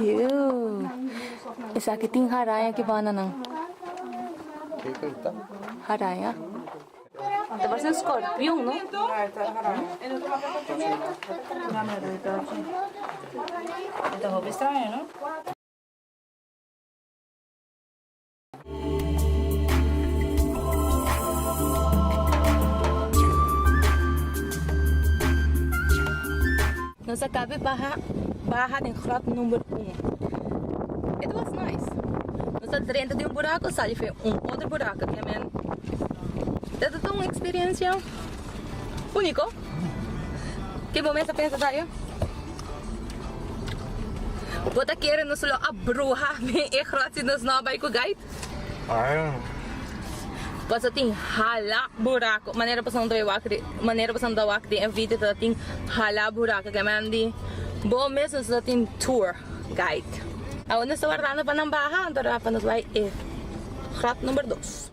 Iuuh esaki tin haraña ki banda nan. Haraña. Ta parse un skorpion no. Ta hopi straño no. Nos a cabe baha baha den grot number un. It was nice. Nos a drenta di un buraco sali fe un otro buraco. It is un experiencia unico. Ke bo mester pensa sa yo? Bo ta kere nos lo a bruha den e grot si nos no a bai ku gait? Pasatin hala buraku. Manera pasan do e wak den, manera pasan do wak den e video tabatin hala buraku. Ke men di bo mes nos lo tin tour guide. Awor nos ta wardando pa nan baha anto a rato nos bai e grot number dos.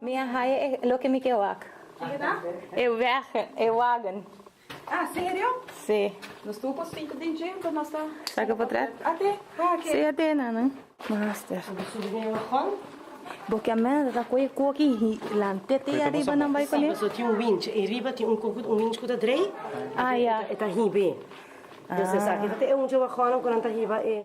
Mi a haya e loke mi ke wak. E wegen, e wagen. Si. Sa ke potret? Si a te, nana. Master. Bo ta subi den e wagon? Bo kier mester ta koe e koki y lant'e te ariba nan bai con e? Si, pasobra tin un winch. E riba tin un koki, un winch cu ta drei. Ah, ya. E ta hib'e. Entonces esaki ta e undje wagonnan cu nan ta hiba e.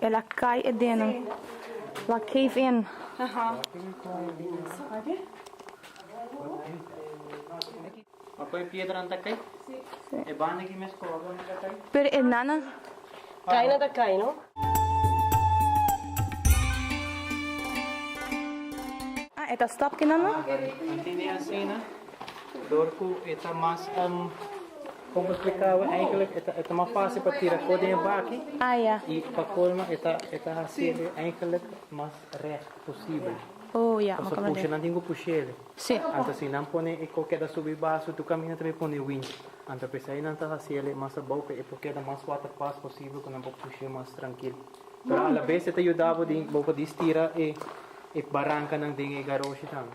El a kai e deno. Lo a cave in. Pero e nana. Kai nan ta kai no. Ah e ta stop kinan no. Como e splicaba eigenlijk e ta e ta mas fácil pa tira co den e baki Ah, ya. y pa colmo e ta e ta hacele eigenlijk mas recht posible. Oh, ya, Paso macaron pusha den. nan tin cu pushele. Sí. Anto si nan pone e co keda subi baso e tu camina ta pone wind. Anto pesai nan ta hacele mas abao pe e por keda mas waterpas posible cu nan por pushe mas trankil. Pero a la bes e ta yudabo di bo por distira e e barancanan den e garosha tambe.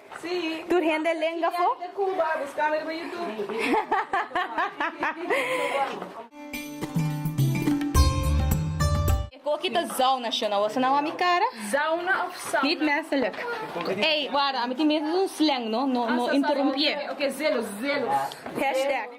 Tur hende lenga fo. E koki ta zauna shona wou sa na wou mi kara? Zauna of sauna? Niet menselijk. Ey, wara, ami tin miedo di un slang no, no, no interrumpié. Oké, oké, oké, zelos, zelos. Hashtag.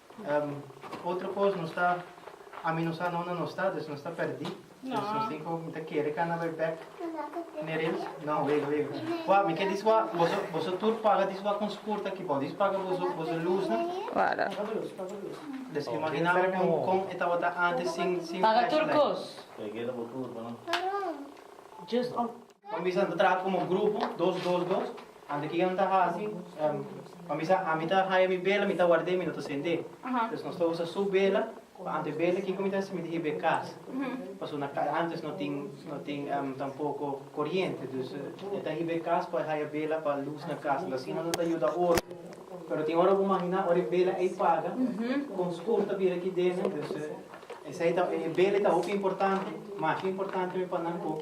Otro cos nos ta ami no sa nonde nos ta, dus nos ta perdi, dus nos tin cu mi ta kere cana bay bek Nereus, no wega wega wak mi ke dis wak boso boso tur paga dis wak con spurt aki bao dis paga boso boso luznan, Wala. Paga luz paga luz. Des imagina mi con con e tabata antes sin sin flashlight. Paga tur cos. Te keda bo tur pa no. Just. Bo mester a traha komo grupo, dos dos dos, anto kico no ta haci, bo mester ami ta haya mi bela mi ta warda y mi no ta sende, entonces nos ta usa su bela pa anto e bela kico mi ta haci mi ta hiba e cas, pasobra antes no tin no tin tampoco coriente, dus e ta hiba e cas pa haya bela pa luz na cas, entonces asina no ta yuda ora, pero tin ora bo imagina ora e bela ey paga con oscuro ta bira aki dentro, entonces esey ta e bela ey ta hopi importante, masha importante mi pa nan cu.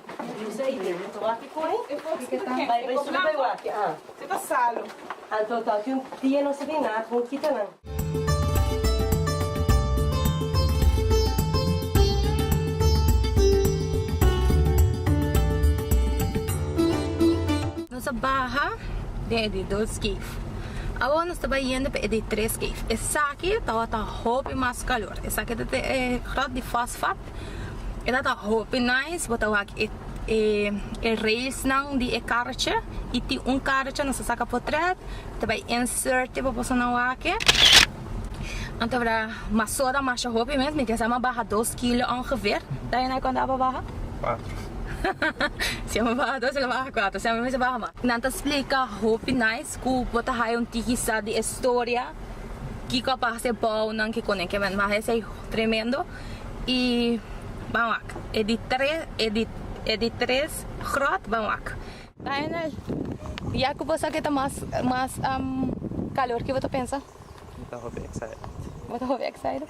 Nos a baha den e di dos cave. Awo nos ta bai yendo pa e di tres cave. Esaki tabata hopi mas calor. Esaki ta e grot di fosfat. E ta ta hopi nice bo ta wak e e e rails nan di e karrotje y tin un karrotje nos ta saka potret y ta bai insert e pa boso nan wak e anto wra mas so ta masha hopi mes mi tin sama baha dos kilo ongeveer ta e cuantu apa baha? si amo baha dos lo baha cuatro si amo mester baha mas nan ta splica hopi nice cu bo ta haya un tiki sa di e storia kico apa hasi e bouw nan kico nan kico nan mas esey tremendo. i ban wak e di tres e di e di tres gròt ban wak. Lionel, ya ku bo sa ke ta mas mas kalor ke bo ta pensa? Mi ta hopi excited. Bo ta hopi excited?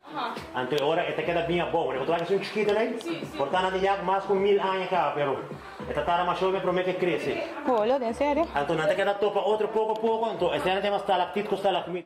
Anto e ora e ta keda bin abou. Ora e kutwal esun chikito nei, por ta na di yak mas ku mil aña kaba, pero e ta tarda masho me promé ku e krese. Polo den sere. Anto nan ta keda topa otro poko a poko. Anto e sere ta yama stalaktit ku stalakmit.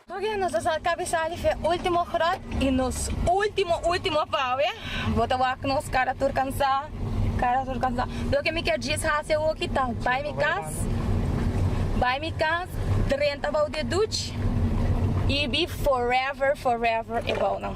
Tokia nos ta sa kabe sali fe ultimo grot y nos ultimo ultimo pawe. Bo ta wak nos cara tur cansa cara tur cansa. Loke mi kier djis haci awoki ta bay mi cas bay mi cas drenta bou di e duch y bi forever forever e bou nan.